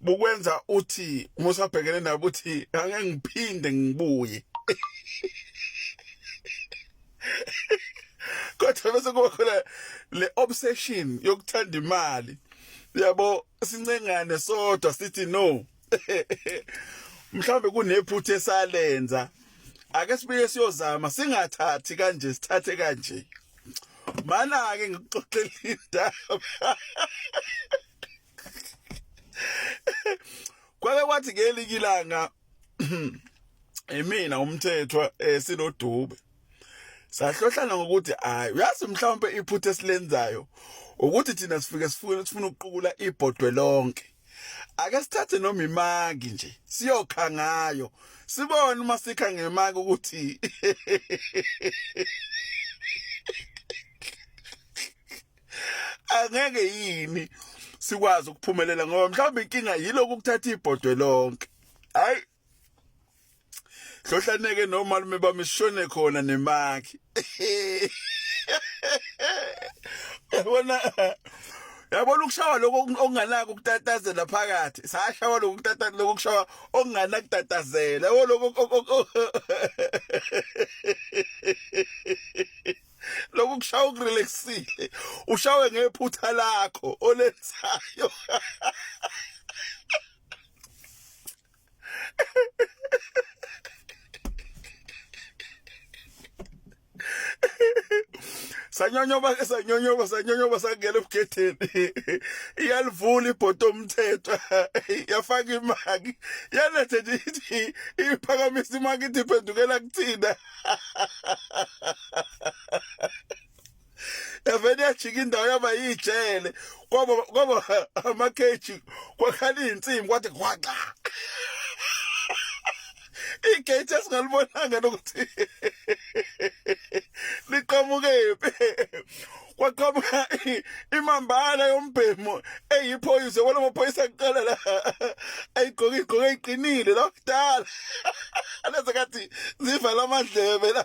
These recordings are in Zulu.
bukwenza uthi musa bhekene nabo uthi ngeke ngiphinde ngibuye kodwa bese kuba khona le obsession yokuthanda imali yabo sincengane sodwa sithi no mhlawumbe kunephutha esalenza ake sibuye siyozama singathathi kanje sithathe kanje mana ke ngikuxoxela indaba kwake kwathi ngelinye ilanga imina umthethwa eh, sinodube sahlohlana ngokuthi hayi uyazi mhlawumbe iphutha esilenzayo ukuthi thina sifike sifuna sifuna ukuqukula ibhodwe lonke ake sithathe noma imaki nje siyokha ngayo sibone uma sikha ngemaki ukuthi angeke yini sikwazi ukuphumelela ngoba mhlawumbe inkinga yiloku ukuthatha ibhodwe lonke hayi hlohlaneke nomalume bamishone khona nemakhi yabona yabona ukushawa lokho okunganako ukutatazela phakathi sashawa lokho ukutatazela lokho kushawa okunganako ukutatazela yabo lokho lokhu kushaya ukurelaxile ushawe ngephutha lakho olenzayo sanyonyoba ke sanyonyoba sanyonyoba sangena ebugedeni iyalivula ibhodo omthetho yafaka imaki yalethe ithi iphakamisa imaki ithi phendukela kuthina evele yajika indawo yaba yijele kwaba kwaba amakheji kwakhala izinsimbi kwathi kwaxa igate esingalibonanga nokuthi liqhamukephi kwaqhamuka imambala yombhemo eyiphoyisa kwalo maphoyisa kuqala la ayigqoke igqoke iqinile la kudala leza kathi zivala amadlebe la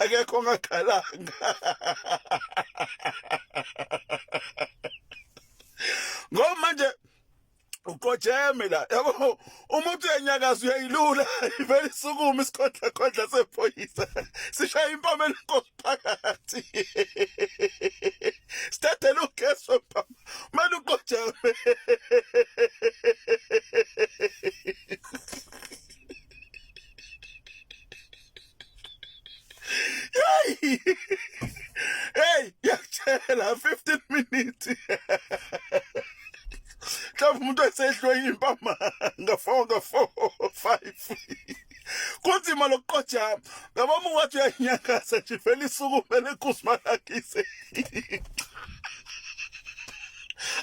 akekho ongakhalanga ngoba manje uqojeme la yabo uma uthi uyanyakaza uyayilula ivele isukume isikhondla khondla sephoyisa sishaya impama enkosi phakathi sithathele ugesi wempama manje uqojeme Hey! Hey, yakutshela 15 minutes. Mhlawumbe umuntu esehlwe impama nga-four nga-four five kunzima lokuqojama ngaba uma wathi uyanyangaza nje vele isuku kumele kuzimalakise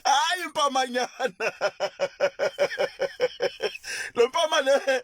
hayi impamanyana lo mpama le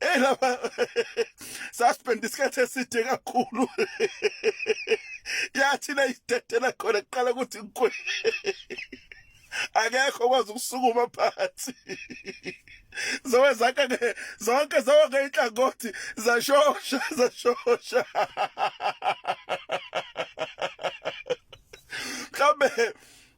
Hey lapha suspend isikhathi eside kakhulu. Yathi la idedela khona kuqala ukuthi ngikwe. Akekho kwazi ukusukuma phansi. Zowenza ke zonke zonke inhlangothi zashosha zashosha. Mhlambe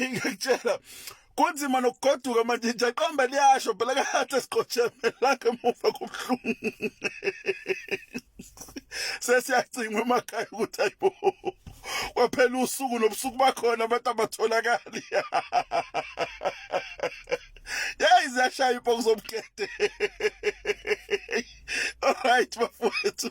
ngiyakutshela kunzima nokugoduka manje nje qamba liyasho phela kahle siqotshemelaka emuva kobuhlungu sesiyacingwa emakhaya ukuthi ayibo kwaphela usuku nobusuku bakhona abantu abatholakali yayi ziyashaya ipoku zomkete alright bafowethu